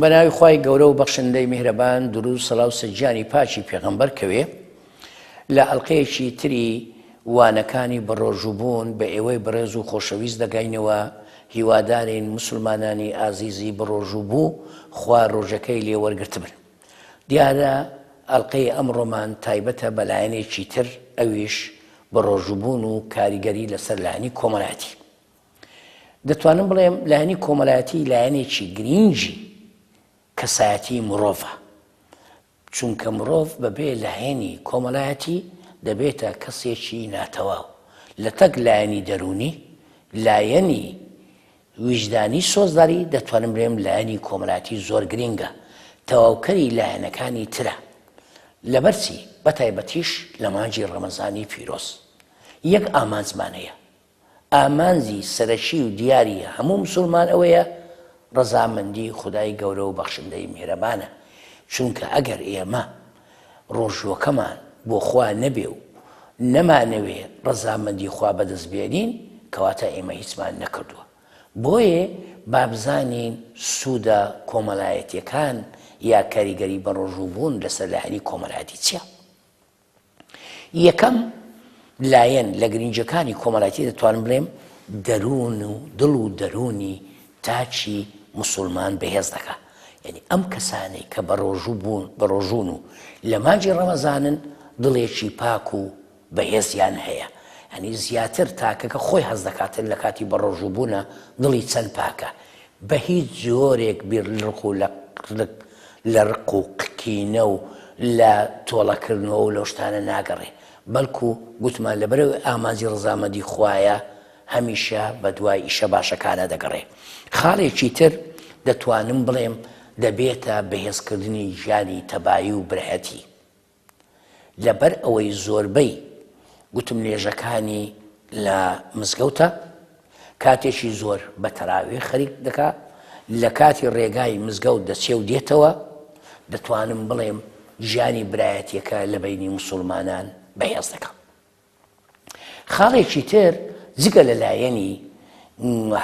بە ناوی خوای گەورە و بەخشندەی میهرەبان دروود سەلاو سەجیانی پاکی پێغەمبەر کەوێ لە ئەڵلقەیەکی تری وانەکانی بەڕۆژووبوون بە ئێوەی بەڕێز و خۆشەویست دەگەینەوە هیوادارین مسلمانانی ئازیزی بەڕۆژوو بوو خوا ڕۆژەکەی لێ وەرگرتبن دیارە ئەڵلقەی ئەمڕۆمان تایبەتە بەلایەنێکی تر ئەویش بەڕۆژووبوون و کاریگەری لەسەر لایەنی کۆمەلاتی دەتوانم بڵێم لایەنی کۆمەلایەتی لایەنێکی گرینگی کەسایەتی مرۆڤە چونکە مرۆڤ بەبێ لایەنی کۆمەلایەتی دەبێتە کەسێکی ناتەواو لە تەک لایەنی دەرونی لایەنی ویژدانی سۆزداری دەتوانم بێم لایەنی کۆمەلاتی زۆر گرنگە تەواوکەری لایەنەکانی ترە لەبەرچی بەتایبەتیش لە مانجی ڕەمەزانی پیرۆز یەک ئامانجمانەیە ئامانجی سەرەکی و دیاری هەموو مسوڵمان ئەوەیە ڕەزامەندی خودای گەورە و بەخشندەی میهرەبانە، چونکە ئەگەر ئێمە ڕۆژووەکەمان بۆ خوا نەبێ و نەمانەوێ ڕەزامەندی خوا بەدەست بێنین کەواتە ئێمە هیچمان نەکردووە، بۆیێ با بزانین سوودە کۆمەلایەتیەکان یا کاریگەری بەڕۆژووبوون لەسەر لایەنی کۆمەلایەتی چیە؟ یەکەم لایەن لە گرنگیەکانی کۆمەلایتی دەتوانم بلێم دەرون و دل و دەرونی تاکی موسولمان بەهێز دەکا یەنی ئەم کەسانەی کە بەڕۆژو بون بەڕۆژون و لە مانجی ڕەمەزانن دڵێکی پاک و بەهێزیان هەیە ئەنی زیاتر تاکەکە خۆی هەز دەکاتن لە کاتی بەڕۆژوبونە دڵی چەند پاکە بە هیچ جۆرێک بیر لڕق و لە قلق لە رق و قکینە و لە تۆڵە کردنەوە و لەو شتانە ناگەڕێ بەلکو گوتمان لە بەرەوەی ئامانجی رزامەندی خوایە هەمیشە بە دوای ئیشە باشەکانا دەگەڕێ خاڵێکی تر دەتوانم بڵێم دەبێتە بەهێز کردنی ژیانی تەبایی و برهتی لەبەر ئەوەی زۆربەی گوتمنێژەکانی لە مزگەوتە کاتێکی زۆر بە تەراوێ خەریک دەکا لە کاتی ڕێگای مزگەوت دەچێ و دێتەوە دەتوانم بڵێم ژیانی برایەتیەکە لە بینی مسلمانان بەهێز دەکەم. خاڵێکی تر جگە لە لایەنی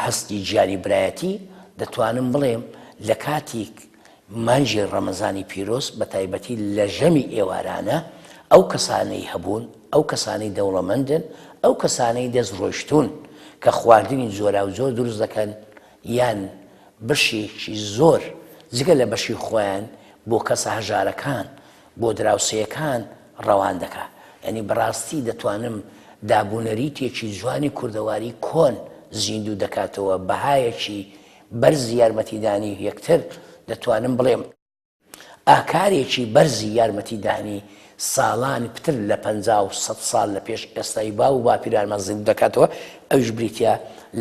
هەستی گیانی برایەتی دەتوانم بڵێم لە کاتیک مانجی ڕەمەزانی پیرۆز بە تایبەتی لە ژەمی ئێوارانە ئەو کەسانەی هەبوون ئەو کەسانەی دەوڵەمەندن ئەو کەسانەی دەست ڕۆشتون کە خواردنی جۆرا و زۆر دروست دەکەن یان بەشێکی زۆر جگە لە بەشی خۆیان بۆ کەسە هەژارەکان بۆ دراوسێیەکان ڕەوان دەکا یانی بەڕاستی دەتوانم دابونەریتێکی جوانی کوردەواری کۆن زیندوو دەکاتەوە بەهایەکی بەرز یارمەتیدانی یەکتر دەتوانم بڵێم ئاکارێکی بەرزی یارمەتیدانی ساڵانی پتر لە پ و سە ساڵ لە پێش ئێستای با و باپیرانمان زیند دەکاتەوە ئەوش بریتە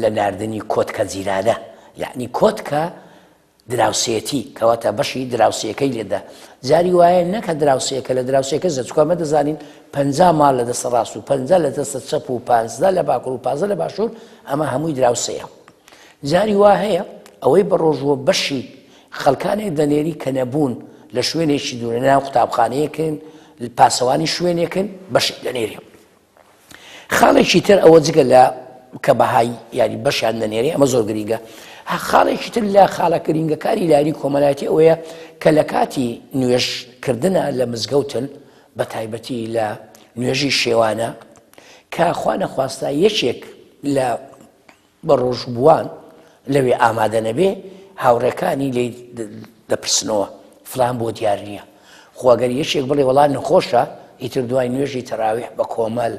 لە نردنی کۆتکە جیرانە یعنی کۆتکە دراوسێتی کەواتە بەشی دراوسەکەی لێدا جاری وایە نەکە دراوسەکە لە دراوسەکە زەچکۆمە دەزانین پ مال لە دەستە ڕاست و پ لە دەستە چەپ و پازدا لە باکوور و پازە لە باشوور ئەمە هەمووی دراوسەیە جاری وا هەیە ئەوەی بە ڕۆژوە بەشی خەڵکانێک دەنێری کە نەبوون لە شوێنێکی دوورە ناو قوتابخانەیەکن پاسەوانی شوێنێکن بەشی دەنێری خاڵێکی تر ئەوە جگە لە کە بەهای یاری بەشیان دەنێری ئەمە زۆر گرنگە خاڵێکی تر لە خاڵە گرنگەکانی لاری کۆمەلایەتی ئەوەیە کە لە کاتی نوێشکردە لە مزگەوتن بە تایبەتی لە نوێژی شێوانە کە خوانەخواستە یەکێک لە بە ڕۆژووان لەوێ ئامادە نەبێ هاوڕێکانی لێ دەپرسنەوە فلان بۆ دیار نییە خۆگەر یەکێک بڵێ وڵان نەخۆشە ئیتر دوای نوێژی تەراویح بە کۆمەل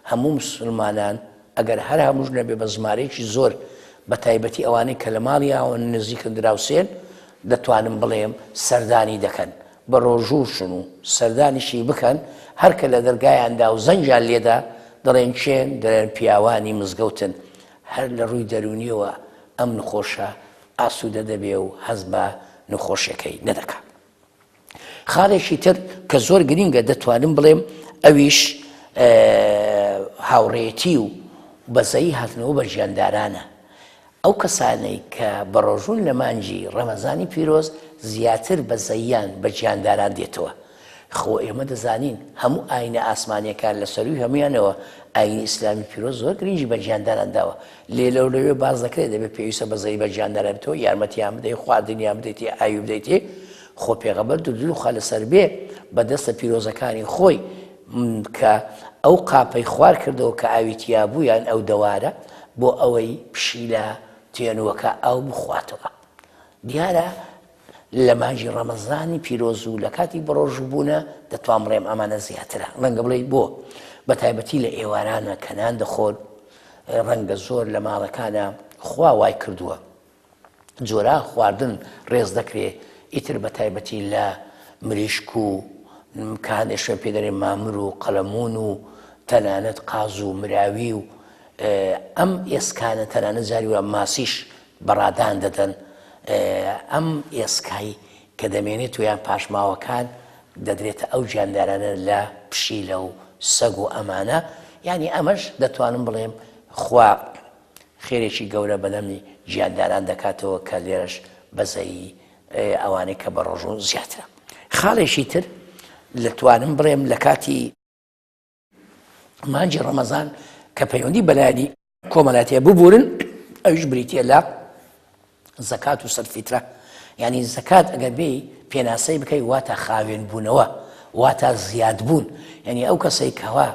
هەموو مسلمانان ئەگەر هەر هەمووش نەبێ بە زمارێکی زۆر بە تایبەتی ئەوانەی کە لە ماڵیاوە نزیکن دراوسێن دەتوانم بڵێم سەردانی دەکەن بەڕۆژوو شن و سەردانیشی بکەن، هەرکە لە دەرگایان دا و زەنگیان لێ دا، دەڵێن کێن؟ دەلێن پیاوانی مزگەوتن. هەر لە ڕووی دەروونییەوە ئەم نخۆشە ئاسوودە دەبێ و هەست بە نخۆشێکەی نەدەکا. خاڵێکی تر کە زۆر گرینگە دەتوانم بڵێم ئەویش هاوڕێیەتی و بەزەیی هاتنەوە بە ژیاندارانە. ئەو کەسانەی کە بەڕۆژوون لە مانگی ڕەمەزانی پیرۆز زیاتر بە زەییان بە گیانداران دێتەوە، خۆ ئێمە دەزانین هەموو ئاینە ئاسمانیەکان لە سەرووی هەموویانەوە ئاینی ئیسلامی پیرۆز زۆر گرنگی بە گیانداران داوە، لێ لەو لەوێ باس دەکرێت دەبێت پێویستە بە زەیی بە گیانداران بێتەوە، یارمەتیان بدەیت، خواردنیان بدەیت، ئاوی بدەیت، خۆ پێغەمبەر دروودی خوای لەسەر بێت بە دەستە پیرۆزەکانی خۆی، کە ئەو قاپەی خوار کردەوە کە ئاوی تیا بوو یان ئەو دەوارە بۆ ئەوەی پشیلە تێنووەکە ئاو بخواتەوە. دیارە لە مانگی ڕەمەزانی پیرۆز و لە کاتی بەڕۆژووبوونە دەتوان بڵێم ئەمانە زیاترە ڕەنگە بڵێی بۆ بە تایبەتی لە ئێوارانە کەنان دەخۆن ڕەنگە زۆر لە ماڵەکانە خوا وای کردووە جۆرە خواردن ڕێز دەکرێ ئیتر بە تایبەتی لە مریشک و کە هەندێک شوێن پێ دەێ مامر و قەلەمون و تەنانەت قاز و مراوی و ئەم ئێسکانە تەنانە جاری وە ماسیش بەڕادان دەدەن ئەم ئێسکایی کە دەمێنێت تویان پاشماوەکان دەدرێتە ئەو گیاندارانە لە پشیلە و سەگ و ئەمانە ینی ئەمەش دەتوانم بڵێم خوا خێرێکی گەورە بەدەمی گیانداران دەکاتەوە کە لێرەش بەزەیی ئەوانەی کە بەڕۆژوون زیاترە خاڵێکی تر لە توانم بڵێم لە کاتی مانجی ڕەمەزان کە پەیوەندی بەلایانی کۆمەلاتێ ببورن ئەوش بریتە لە زەکات و سەد فیترە یانی زەکات ئەگەر بێی پێناسەی بکەی واتە خاوێن بوونەوە واتە زیاد بوون یعنی ئەو کەسەی کەوا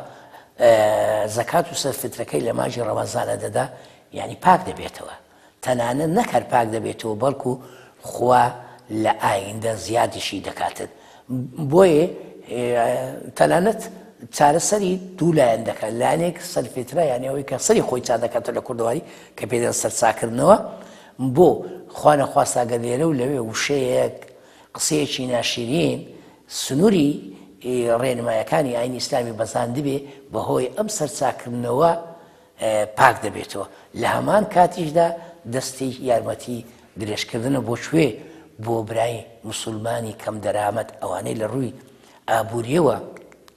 زەکات و سەر فترەکەی لە ماژی ڕەمەزانە دەدا یعنی پاک دەبێتەوە تەنانە نەکەر پاک دەبێتەوە بەڵکو خوا لە ئایندە زیادیشی دەکاتن بۆیێ تەنانەت چارەسەری دوو لایەن دەکات لایەنێک سەرفێترا یانە ئەوەی کە سەری خۆی چا دەکاتە لە کوردەواری کە پێدەن سەرچاکردنەوە بۆ خوانە خواستاگە لێرە و لەوێ وشەیەک قسەیەکی ناشیرین سنووری ڕێنمایەکانی ئاین ئیسلامی بەزاندبێ بەهۆی ئەم سەرچاکردنەوە پاک دەبێتەوە لە هەمان کاتیشدا دەستی یارمەتی درێژکردنە بۆ کوێ بۆ برای مسلمانی کەم دەرامەت ئەوانەی لە ڕووی ئابوووریەوە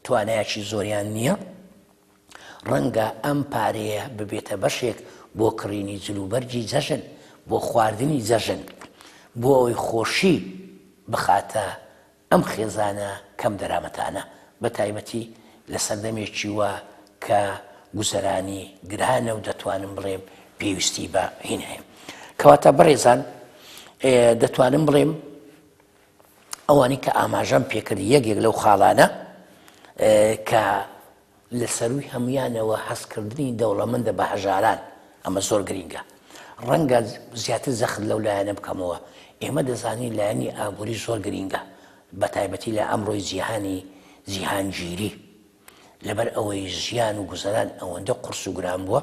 توانایکی زۆریان نییە ڕەنگە ئەم پارەیە ببێتە بەشێک بۆ کڕینی جلوبەرگی جەژن بۆ خواردنی جەژن بۆ ئەوەی خۆشی بخاتە ئەم خێزانە کەم دەرامەتانە، بە تایبەتی لە سەردەمێکی وا کە گوزەرانی گرانە و دەتوانم بڵێم پێویستی بە هین هەیە. کەواتە بەڕێزان دەتوانم بڵێم ئەوانی کە ئاماژەم پێکرد یەکێک لەو خاڵانە کە لە سەرووی هەموویانەوە هەستکردنی دەوڵەمەندە بە هەژاران، ئەمە زۆر گرینگە. ڕەنگە زیاتر جەخت لەو لایەنە بکەمەوە. ئێمە دەزانین لایەنی ئابووری زۆر گرینگە، بەتایبەتی لە ئەمڕۆی جیهانی جیهانگیری. لەبەر ئەوەی ژیان و گوزەران ئەوەندە قورس و گران بووە،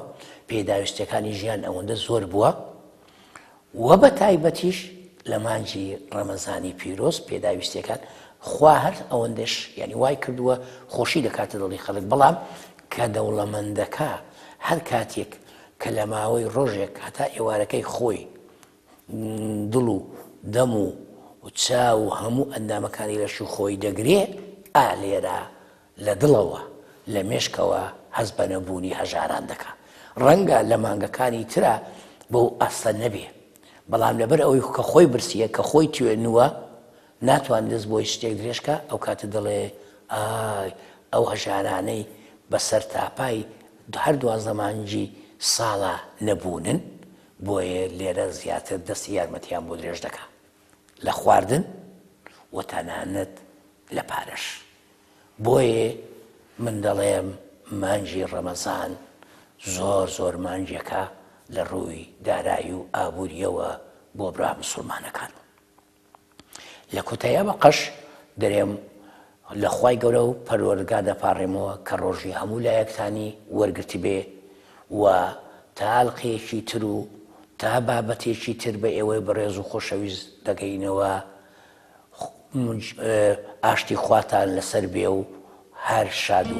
پێداویستییەکانی ژیان ئەوەندە زۆر بووە، وە بە تایبەتیش لە مانگی ڕەمەزانی پیرۆز پێداویستیەکان خوا هەر ئەوەندەش یعنی وای کردووە خۆشی دەکاتە دڵی خەڵک بەڵام کە دەوڵەمەندەکە هەر کاتێک کە لە ماوەی ڕۆژێک هەتا ئێوارەکەی خۆی دڵ و دەم و و چاو و هەموو ئەندامەکانی لەش و خۆی دەگرێ ئالێرە لە دڵەوە، لە مێشکەوە هەست بە نەبوونی هەژاران دەکا. ڕەنگە لە مانگەکانی ترا بەو ئاستە نەبێ، بەڵام لەبەر ئەوەی کە خۆی برسییە، کە خۆی توێنووە، ناتوانێ دەست بۆ هیچ شتێک درێژ کا، ئەو کاتە دەڵێ، ئای ئەو هەژارانەی بە سەرتاپای هەر دوازدە مانگی ساڵا نەبوونن، بۆیە لێرە زیاتر دەستی یارمەتییان بۆ درێژ دەکا. لە خواردن و تەنانەت لە پارەش. بۆیێ من دەڵێم مانگی ڕەمەزان زۆر زۆر مانگێکە لە ڕووی دارایی و ئابوورییەوە بۆ برا موسڵمانەکان. لە کوتایەوە قەش دەرێم لە خوای گەورە و پەروەردگار دەپاڕێمەوە کە ڕۆژی هەموو لایەکتانی وەرگرتبێ و تا ئەلقەیەکی تر و تا بابەتێکی تر بە ئێوەی بەڕێز و خۆشەویست دەگەینەوە ئاشتی خواتان لەسەر بێ و هەر شاد و